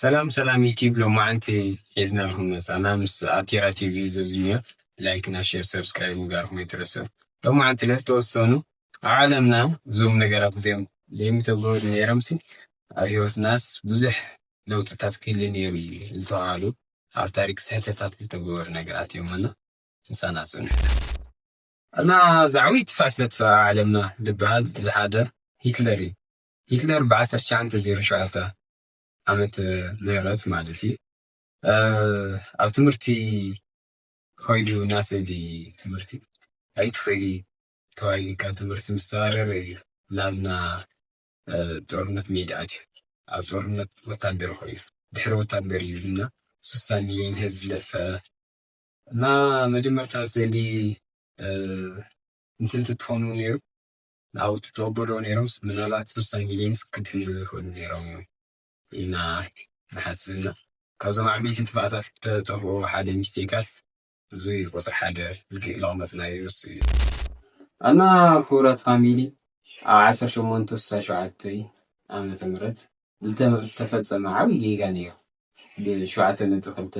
ሰላም ሰላም ዩቲብ ሎማዓንቲ ሒዝናልኩም መፃና ምስ ኣቲራ ቲቪ ዘዙኛ ላይክ እና ሼር ሰብስክራይብ ምግባርኩም ኣይትረስዑ ሎማዓንቲ ለተወሰኑ ኣብ ዓለምና እዞም ነገራት እዚኦም ለይምተገበሩ ነይሮምሲ ኣብ ሂወትናስ ብዙሕ ለውጥታት ክህሊ ነይሩ እዩ ዝተባሃሉ ኣብ ታሪክ ስሕተታት ዝተገበሩ ነገራት እዮም እና ምሳና ፅንሑ እና ዛዕዊት ፋሽለት ፋ ዓለምና ድባሃል ዝሓደር ሂትለር እዩ ሂትለር ብ ዓሰርተ ትሽዓተ ዜሮ ሸውዓተ ዓመተ ምህረት ማለት እዩ ኣብ ትምህርቲ ኮይዱ ናስእሊ ትምህርቲ ኣይትክእሊ ተባሂሉ ካብ ትምህርቲ ምስ ተባረረ እዩ ናብ ና ጦርነት ሜዳ ኣትዩ ኣብ ጦርነት ወታደር ኮይኑ ድሕሪ ወታደር እዩ እና ሱሳ ሚልዮን ህዝቢ ዘጥፈኣ እና መጀመርታ ኣብ ስእሊ እንትንቲ ትኾኑ ነይሩ ናውቲ ተወበዶ ነይሮም ምናልባት ሶስታ ሚሊዮንስ ክድሕኑ ይኽእሉ ነይሮም እዮም ኢና ንሓስብና ካብዞም ዓበይቲ ጥፍኣታት ተጠፍኡ ሓደ ሚስቴካት እዚ ቁጥሪ ሓደ ልክዕ ለቕመጥናዮ እሱ እዩ እና ክቡራት ፋሚሊ ኣብ ዓሰርተ ሸሞንተ ስሳ ሸውዓተ ዓመተ ምህረት ዝተፈፀመ ዓብይ ጌጋ ነይሩ ብሸውዓተ ነጥቢ ክልተ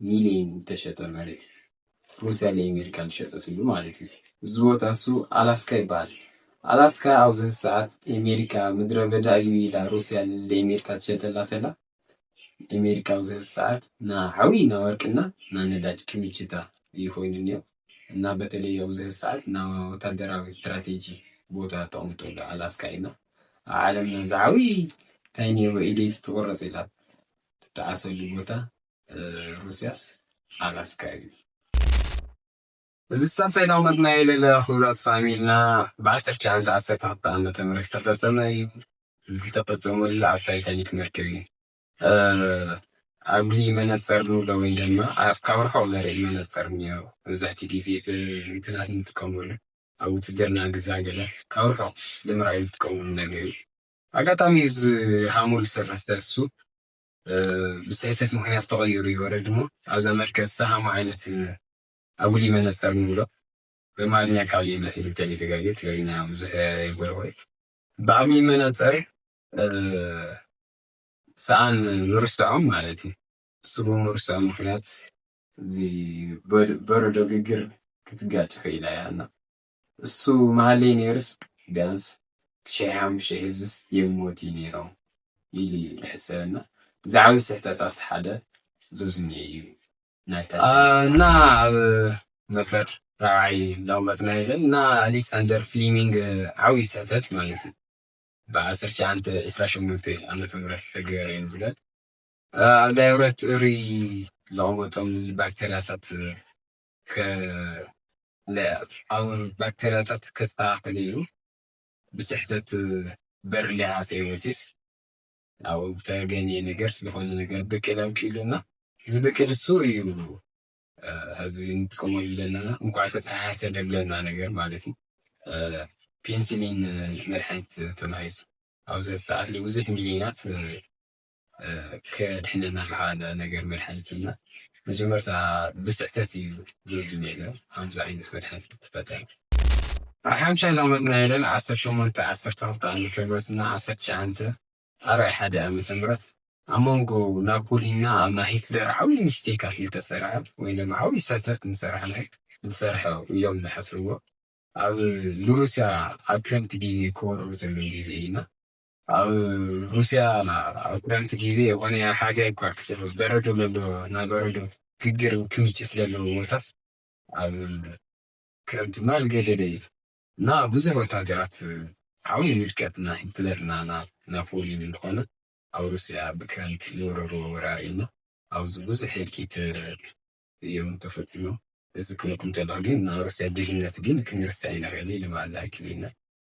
ሚልዮን ዝተሸጠ መሬት ሩስያ ንኤሜሪካ ዝሸጠትሉ ማለት እዩ። እዚ ቦታ እሱ ኣላስካ ይበሃል። ኣላስካ ኣብዚ ሕዚ ሰዓት ኤሜሪካ ምድረ በዳ እዩ ኢላ ሩስያ ንኤሜሪካ ትሸጠላ ተላ ኤሜሪካ ኣብዚ ሕዚ ሰዓት ና ዓብይ ና ወርቂ እና ና ነዳጅ ክምችታ እዩ ኮይኑ እኒኦ እና በተለይ ኣብዚ ሕዚ ሰዓት ና ወታደራዊ ስትራቴጂ ቦታ ተቕምጠሉ ኣላስካ እዩ እና ኣብ ዓለምና ዝዓብይ እንታይ ነይሩ ኢደይቲ ትቑረፅ ኢላ ትጠዓሰሉ ቦታ ሩስያስ ኣላስካ እዩ። እዚ ሳልሳይታዊ መድናይ ለለላ ክብራት ፋሚልና ብ1912 ዓ.ም ዝተፈጸመ እዩ። እዚ ዝተፈጸመሉ ኣብ ታይታኒክ መርከብ እዩ። ኣጉሊ መነጸር ንብሎ ወይ ድማ ካብ ርሑቕ ዘርኢ መነጸር እኒኦ መብዛሕትኡ ግዜ ብእንትናት ንጥቀመሉ ኣብ ውትድርና ግዛ ገለ ካብ ርሑቕ ንምርኣይ ዝጥቀምሉ ነገር እዩ። ኣጋጣሚ እዚ ሃሙል ዝሰርሕ ሰሱ ብስሕተት ምክንያት ተቐይሩ ይወረድ እሞ ኣብዛ መርከብ ዝሰሃሞ ዓይነት ኣጉሊ መነፀር ንብሎ በማርኛ ቃል እዩ መፅኡ እንተለይ ተጋጌ ትግርኛ ብዙሕ ይጎልቆ እዩ ብኣጉሊ መነፀር ሰኣን ንርስዖም ማለት እዩ እሱ ብምርስዖም ምክንያት እዚ በረዶ ግግር ክትጋጭ ክኢላ እያ እና እሱ ምሃለይ ነይሩስ ቢያንስ ሽሕ ሓሙሽተ ህዝብስ የይሞት እዩ ነይሮም ኢሉ እዩ ልሕሰብ እና እዚ ዓብይ ስሕተታት ሓደ ዞዝኒ እዩ እና ኣብ መበር ራብዓይ ላውመትና ይብል እና ኣሌክሳንደር ፍሊሚንግ ዓብይ ስሕተት ማለት እዩ ብዓሰርተ ትሽዓንተ ዕስራ ሸሞንተ ዓመተ ምህረት ዝተገበረ እዩ ዝብል ኣብ ዳይብረት እሩይ ለቕመጦም ባክተርያታት ከለኣኣውን ባክተርያታት ከስተኻኸል ኢሉ ብስሕተት በርሊ ሃሰ ወሲስ ኣብ ተገኘ ነገር ስለኾነ ነገር ብቅል ኣውኪሉ እና ዝብቅል እሱ እዩ እዚ ንጥቀመሉ ኣለና እንኳዕ ተፀሓሕተ ደብለና ነገር ማለት እዩ ፔንሲሊን መድሓኒት ተባሂሱ ኣብዚ ሰዓት ብዙሕ ሚሊዮናት ከድሕነና ዝኸኣለ ነገር መድሓኒት እዩ እና መጀመርታ ብስሕተት እዩ ዝብል ነይረ ከምዚ ዓይነት መድሓኒት ክትፈጠር ኣብ ሓምሻይ ላሞት ናይ ለን ዓሰርተ ሸሞንተ ዓሰርተ ክልተ ዓመተ ምህረት እና ዓሰርተ ትሽዓንተ ኣርባዒ ሓደ ዓመተ ምህረት ኣብ መንጎ ናፖሊ እና ኣብ ናይ ሂትለር ዓብዪ ሚስቴካት እዩ ተሰረሐ ወይ ድማ ዓብዪ ስሕተት ንሰራሕ ናይ ዝሰርሐ እዮም ዝሓስብዎ ኣብ ንሩስያ ኣብ ክረምቲ ግዜ ክወርሩ ዘለዉ ግዜ እዩ እና ኣብ ሩስያ ኣብ ክረምቲ ግዜ የኾነ ኣብ ሓጋይ እኳ በረዶ ለሎ ናይ በረዶ ግግር ክምችት ለለዎ ቦታስ ኣብ ክረምቲ ድማ ኣልገደደ እዩ እና ብዙሕ ወታደራት ዓብዪ ውድቀት እና ሂትለር እና ናብ ፖሊን እንደኾነ ኣብ ሩስያ ብክረምቲ ዝወረርዎ ወራር እዩ እና ኣብዚ ብዙሕ ህልቂት እዮም ተፈፂሞም እዚ ክብለኩም ከለኹ ግን ናይ ሩስያ ጅግንነት ግን ክንርስዕ ኣይንኽእልን ኢሉ በሃላይ ክብል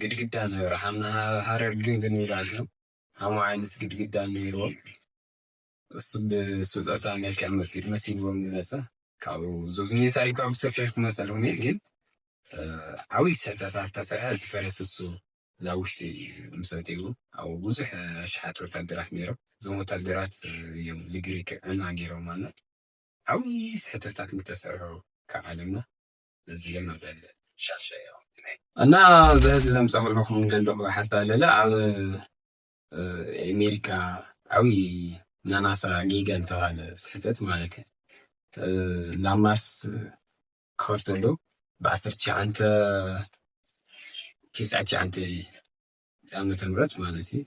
ግድግዳ ነበረ ሃረር ግንብ ንብላ ንሕና ከምኡ ዓይነት ግድግዳ ነይርዎም እሱ ብስጦታ መልክዕ መሲሉ መሲልዎም ዝመፀ ካብኡ ዞዝኔታ ኢልካ ብሰፊሑ ክመፀልኩም እየ ግን ዓብዪ ስሕተታት ተሰርሐ ዝፈረስ እሱ እዛ ውሽጢ ምሰትኡ ኣብ ብዙሕ ኣሽሓት ወታደራት ነይሮም እዞም ወታደራት እዮም ንግሪክ ዕና ገይሮም ኣና ዓብዪ ስሕተታት ዝተሰርሑ ካብ ዓለምና እዚ መበል ሻሸ ያው እና ዘህዚ ዘምፀምለኹም ደለኹ ሓታ ለለ ኣብ ኣሜሪካ ዓብዪ ናናሳ ጌጋ ዝተባለ ስሕተት ማለት እዩ ላማርስ ከርተሉ ብዓሰርተ ሸዓንተ ትስዓት ሸዓንተ ዓመተ ምህረት ማለት እዩ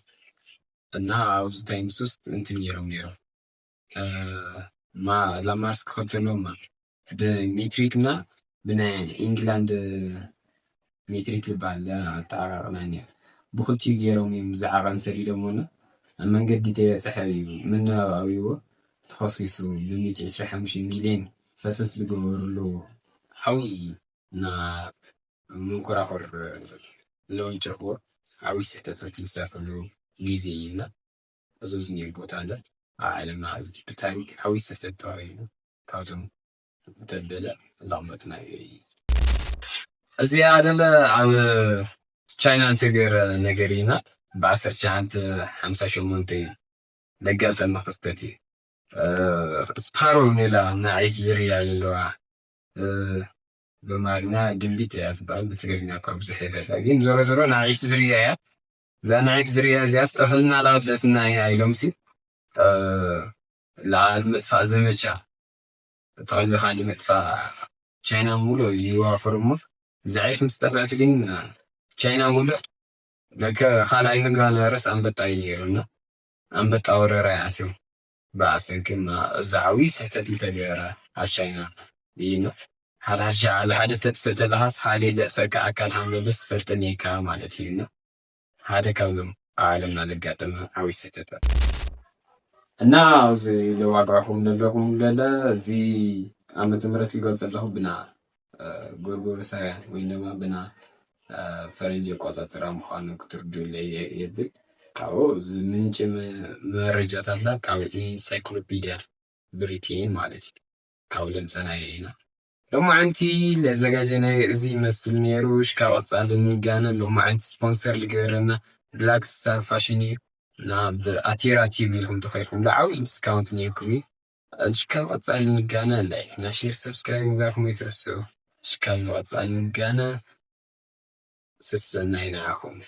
እና ኣብዚ ታይምስ ውስጥ እንትን ነይሮም ነይሮም ላማርስ ክኸብ ዘለዎም ብሜትሪክ እና ብናይ ኢንግላንድ ሜትሪክ ዝበሃል ኣተዓቃቅና እኒኦ ብክልቲኡ ገይሮም እዮም ዝዓቐን ሰዲዶም ና ኣብ መንገዲ ተበፅሐ እዩ ምንባብ ኣብዎ ተኸሲሱ ብሚእቲ ዕስራ ሓሙሽተ ሚሊዮን ፈሰስ ዝገበርሉ ዓብዪ እና መንኮራኹር ለዊጮዎ ዓብዪ ስሕተት ክሳፈሉ ግዜ እዩ እና እዙይ ዝኒሀ ቦታ ለ ኣብ ዓለምና ሕዚ ብታሪክ ዓብይ ስሕተት ተባሂሉ ካብቶም ደበለ እንዳቅመጥና እዩ። እዚኣ ደለ ኣብ ቻይና እንተገይረ ነገር እዩ እና ብዓሰርተ ትሽዓንተ ሓምሳ ሸሞንተ እዩ ለጋጠመ ክስተት እዩ ስፓሮ ኔላ ናዒፍ ዝርያ ዘለዋ በማርኛ ድንቢጥ እያ ትበሃል ብትግርኛ እኳ ብዙሕ የፈልጣ ግን ዞሮ ዞሮ ናዒፍ ዝርያ እያ እዛ ንዒፍ ዝርያ እዚኣስ ጥሕልና ላብደትና ኢያ ኢሎምሲ ልዓል ምጥፋእ ዘመቻ ተቐሊኻ ንምጥፋእ ቻይና ሙሉእ ይዋፈሩ እሞ እዛ ዒፍ ምስ ጠፍእት ግን ቻይና ሙሉእ ለከ ካልኣይ ምግባል ቫይረስ ኣንበጣ እዩ ነይሩና ኣንበጣ ወረራ ይኣትዮም ብሰንክና እዚ ዓብይ ስሕተት እንተገይረ ኣብ ቻይና እይና ሓዳርሻ ዓለ ሓደ ተጥፍእ ተለኻስ ኻሊእ ለጥፈካ ኣካል ሃመበስ ትፈልጠን እይካ ማለት እይና ሓደ ካብዞም ኣብ ዓለምና ለጋጠመ ዓብይ ስሕተታት እና ኣብዚ ለዋጋዕኹም ለለኹም ለለ እዚ ዓመተ ምህረት ልገልፀለኹ ብና ጎርጎሮሳውያን ወይ ድማ ብና ፈረንጂ ኣቆፃፅራ ምዃኑ ክትርድኡለይ የብል። ካብኡ እዚ ምንጪ መረጃታትና ካብ ኢንሳይክሎፒድያ ብሪቴን ማለት እዩ ካብ ለምፀናዮ ኢና። ሎማዕንቲ ለዘጋጀናዮ እዚ ይመስል ነይሩ። ሽካ ቀፃሊ ንጋነ ሎማዕንቲ ስፖንሰር ልገበረና ብላክ ስታር ፋሽን እዩ እና ብኣቴራ ቲዩብ ኢልኩም ተኸይልኩም ዓብዪ ዲስካውንት ነይርኩም እዩ። ኣሽካብ ቐጻሊ ንጋና ላይክ እና ሼር ሰብስክራይብ ምግባርኩም ኣይትረስዑ ኣሽካብ ንቐጻሊ ንጋና ሰሰናዩ ንዓኹም።